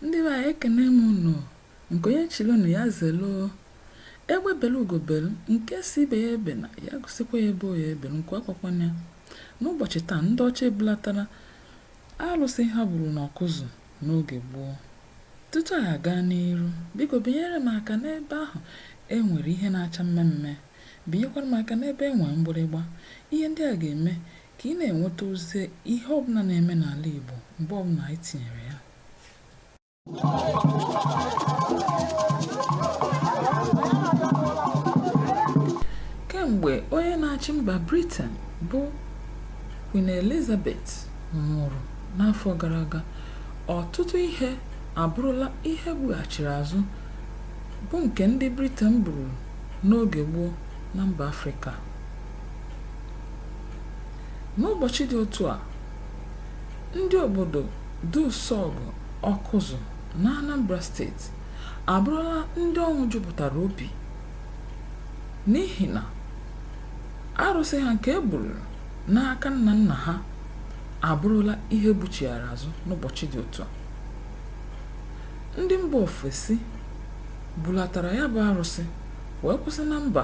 ndị be anyị ekene m unu nke onye chili nya zelu egbe belu ugo belu nke sị ibe ya ebena ya gosikwa ya ebe ọ ya-ebelu nku akwakwana ya n'ụbọchị taa ndị ọcha ebulatara alụsị ha buru n'Ọkụzụ n'oge gboo tutu a gaa n'iru biko binyere m aka n'ebe ahụ e nwere ihe na-acha mmee mmee Binyekwara m aka n'ebe e nwere mgbịrịgba. Ihe ndị a ga-eme ka ị na-enweta ozi ihe ọbụla na-eme n'ala Igbo mgbe ọbụla anyị tinyere ya. Kemgbe onye na-achị mba Briten bụ Queen Elizabeth nwụrụ n'afọ gara aga, ọtụtụ ihe abụrụla ihe e bughachiri azụ bụ nke ndị Briten buru n'oge gboo na mba Afrịka. N'ụbọchị dị otu a, ndị obodo Dusọgụ Ọkụzụ n'Anambra steeti abụrụla ndị ọṅụ jupụtara obi n'ihi na arụsị ha nke e buru n'aka nna nna ha abụrụla ihe e buchighara azụ n'ụbọchị dị otu a. Ndị mba ofesi bulatara ya bụ arụsị wee kwụsị na mba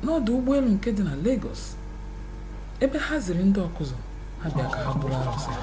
n'ọdụ ụgbọelu nke dị na Lagos ebe ha ziri ndị Ọkụzụ ha bịa ka ha buru arụsị ha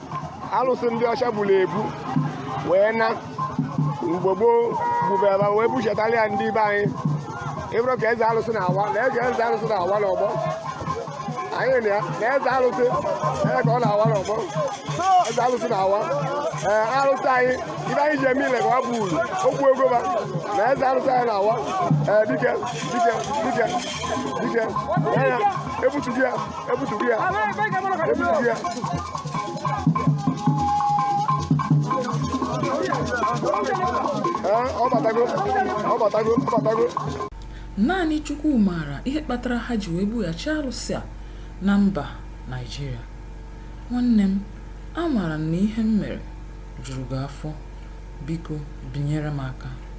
alụsị ndị ọcha buru ebu wee na mgbe gboo gbubeba wee buchetara ya ndị be anyị ịbụrụ ka eze alụsị na-awa na eze eze alụsị na-awa n'ọgbọ anyị na ya na eze alụsị ee ka ọ na-awa n'ọgbọ eze alụsị na-awa ee alụsị anyị ibe anyị ji eme ile ka ọ bụ uru okwu ego ba na eze alụsị anyị na-awa ee dike dike dike dike ya ya e butugo ya e butugo ya e butugo ya Ee, ọ batago ọ batago ọ batago naanị chukwu maara ihe kpatara ha ji wee bughachi arụsị a na mba naijiria nwanne m amaara m na ihe m mere juru gị afọ biko binyere m aka